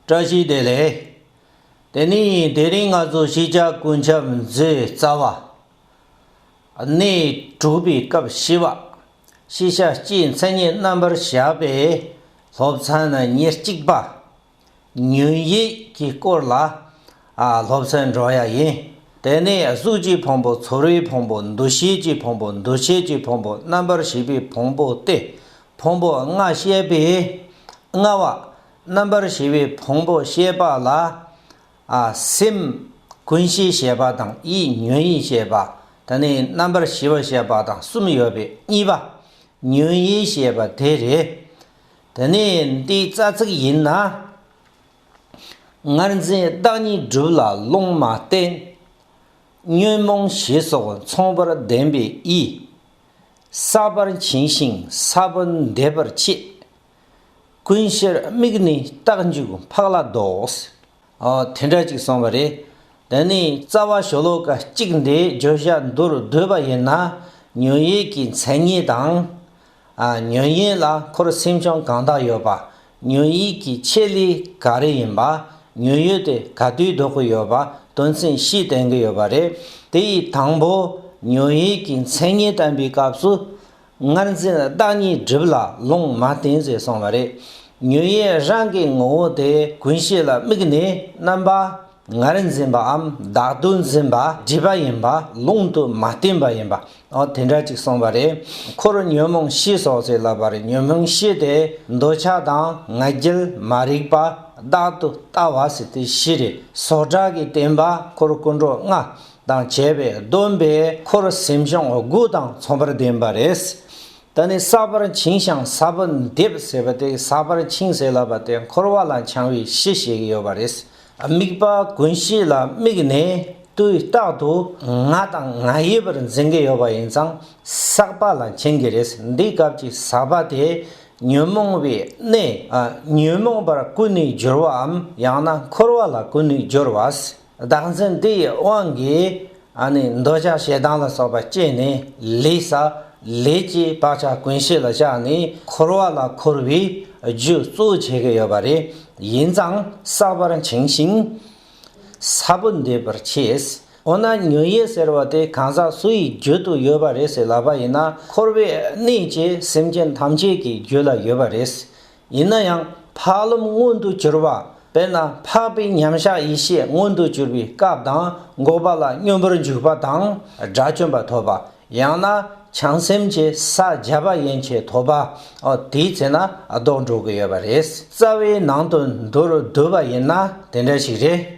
བཀྲ་ཤིས་བདེ་ལེགས། དེ་ནས་དེ་རིང་ང་ཚོ་ཤེས་བྱ་ཀུན་ཁྱབ་མཛོད་རྩ་བ། གནས་དྲུག་པའི་སྐབས་བཞི་པ། ཤེས་བྱ་སྤྱིའི་མཚན་ཉིད་རྣམ་པར་བཞག་པའི་སློབ་ཚན་ནི་ཉེར་གཅིག་པ། ཉོན་ཡིད་ཀྱི་སྐོར་ལ་སློབ་ཚན་འགྲོ་ཡ་ཡིན། དེ་ནས་གཟུགས་ཀྱི་ཕུང་པོ་ཚོར་བའི་ཕུང་པོ་འདུ་ཤེས་ཀྱི་ཕུང་པོ་འདུ་བྱེད་ཀྱི་ཕུང་པོ་རྣམ་པར་ཤེས་པའི་ཕུང་པོ་སྟེ་ཕུང་པོ་ལྔ་བཤད་པས་ལྔ་བ། རྣམ་པར་ཞི་བའི་ཕུང་པོ་ཤེས་པ་ལ། སེམས། ཀུན་གཞི་ཞེས་པ་དང་ཡིད་ཉོན་ཡིད་ཤེས་པ་དང་ནི་རྣམ་པར་ཞི་བ་ཤེས་པ་དང་གསུམ་ཡོད་པས་གཉིས་པ། ཉོན་ཡིད་ཤེས་པ་དེ་རེད། དེ་ནས་འདི་རྩ་ཚིག་ཡིན་ན། ངར་འཛིན་བདག་ཉིད་བསྒྲུབ་ལ་ལུང་མ་བསྟན། ཉོན་མོངས་ཞི་སོགས་མཚུངས་པར་ལྡན་པའི་ཡིད། ཟག་པར་བྱིང་ཞིང་ཟག་པ་འདས་པར་འཆི། ཀུན་གཞིར་དམིགས་ནས་རྟགས་འཇུག་འཕགས་ལ་ལྡོག། ཨོ། དེ་འདྲ་ཅིག་གསུངས་པ་རེད། དེ་ནས་རྩ་བ་ཤོ་ལོ་ཀ་གཅིག་འདིའི་བརྗོད་བྱ་མདོར་བསྡུས་པ་ཡིན་ན། ཉོན་ཡིད་ཀྱི་མཚན་ཉིད་དང། ཉོན་ཡིད་ལ་འཁོར་སེམས་བྱུང་གང་དག་ཡོད་པ། ཉོན་ཡིད་ཀྱི་ཆེད་ལས་ག་རེ་ཡིན་པ། ཉོན་ཡོད་དེ་ག་དུས་ལྡོག་གི་ཡོད་པ་དོན་ཚན་བཞི་བསྟན་གྱི་ཡོད་པ་རེད། དེ་ཡི་དང་པོ་ཉོན་ཡིད་ཀྱི་མཚན་ཉིད་བསྟན་པའི་སྐབས་སུ། སྔར་འཛིན་བདག་ཉིད་སྒྲིབ་ལ་ལུང་མ་བསྟན་ཟེར་གསུངས་པ་རེད། ཉོན་ཡིད་རང་གི་ངོ་བོ་དེ་ཀུན་ཤེས་ལ་དམིགས་ནས་རྣམ་པ་ལྔར་འཛིན་པའམ་བདག་ཏུ་འཛིན་པ་སྒྲིབ་པ་ཡིན་པ་ལུང་དུ་མ་བསྟན་པ་ཡིན་པ་འོ་དེ་འདྲ་ཅིག་གསུངས་པ་རེད། འཁོར་ཉོན་མོངས་ཤེས་སོགས་ཟེར་ལབ་པར་ཉོན་མོངས་ཤེས་དེ་འདོད་ཆགས་དང་ང་རྒྱལ་མ་རིག་པ་བདག་ཏུ་ལྟ་བ་ཟེར་དེ་བཞི་རེད། སོགས་གྲགས་ཀྱི་བསྟན་པ་འཁོར་ཀུན་འགྲོ་ལྔ། དང་བྱས་པས་སྡོམ་པའི་འཁོར་སེམས་ཤོང་དགུ་དང་མཚུངས་པར་ལྡན་པ་རེད། ད་ནི་ས་བར་འཆིང་ཤང་ས་བུ་འདེབས་ཟེར་བ་དེ་ས་བར་འཆིང་ཟེར་ལབ་པ་དེ་འཁོར་བ་ལ་འཆང་བའི་གཞི་ཞིག་ཡོད་པ་རེད། དམིགས་པ་ཀུན་གཞི་ལ་དམིགས་ནས་དུས་རྟག་ཏུ་ང་དང་ང་ཡི་བར་འཛིན་གྱི་ཡོད་པ་ཡིན་ཙང་ཟག་པ་ལ་འཆིང་གི་རེད། འདིའི་སྐབས་ཀྱི་ཟག་པ་དེ་ཉོན་མོངས་པའི་གནས། ཉོན་མོངས་པར་ཀུན་ནས་སྦྱོར་བའམ་ཡང་ན་འཁོར་བ་ལ་ཀུན་ནས་སྦྱོར་བ། བདག་འཛིན་དེ་ཡི་དབང་གིས། འདོད་ཆགས་ཞེ་སྡང་ལ་སོགས་པ་སྐྱེས་ནས་ལས། ལས་ཀྱི་བག་ཆགས་ཀུན་ཤེས་ལ་བཞག་ནས་འཁོར་བ་ལ་འཁོར་བའི་རྒྱུ་གཙོ་བྱེད་ཀྱི་ཡོད་པ་རེ་ཡིན་ཙང་བསགས་པར་འཆིང་ཞིང། ས་བུ་འདེབས་པར་བྱེད། འོ་ན་མྱུ་ཡེ་ཟེར་བ་དེ་གང་ཟག་སུ་ཡི་རྒྱུད་དུ་ཡོད་པ་རེད་ཟེར་ལབ་པ་ཡིན་ན་འཁོར་བའི་གནས་ཀྱི་སེམས་ཅན་ཐམས་ཅད་ཀྱི་རྒྱུད་ལ་ཡོད་པ་རེད། ཡིན་ན་ཡང་འཕགས་ལམ་མངོན་དུ་གྱུར་པ་དཔེར་ན་འཕགས་པའི་མཉམ་གཞག་ཡེ་ཤེས་མངོན་དུ་གྱུར་པའི་སྐབས་དང་འགོག་པ་ལ་སྙོམས་པར་འཇུག་པ་དང་དགྲ་བཅོམ་པ་ཐོབ་པ་ཡང་ན་བྱང་སེམས་ཀྱི་ས་བརྒྱ་པ་ཡན་ཆད་ཐོབ་པ། དེའི་ཚེ་ན་ལྡོག་འགྲོ་གི་ཡོད་པ་རེད། རྩ་བའི་ནང་དུ་མདོར་བསྡུས་པ་ཡིན་ན་དེ་འདྲ་ཞིག་རེད།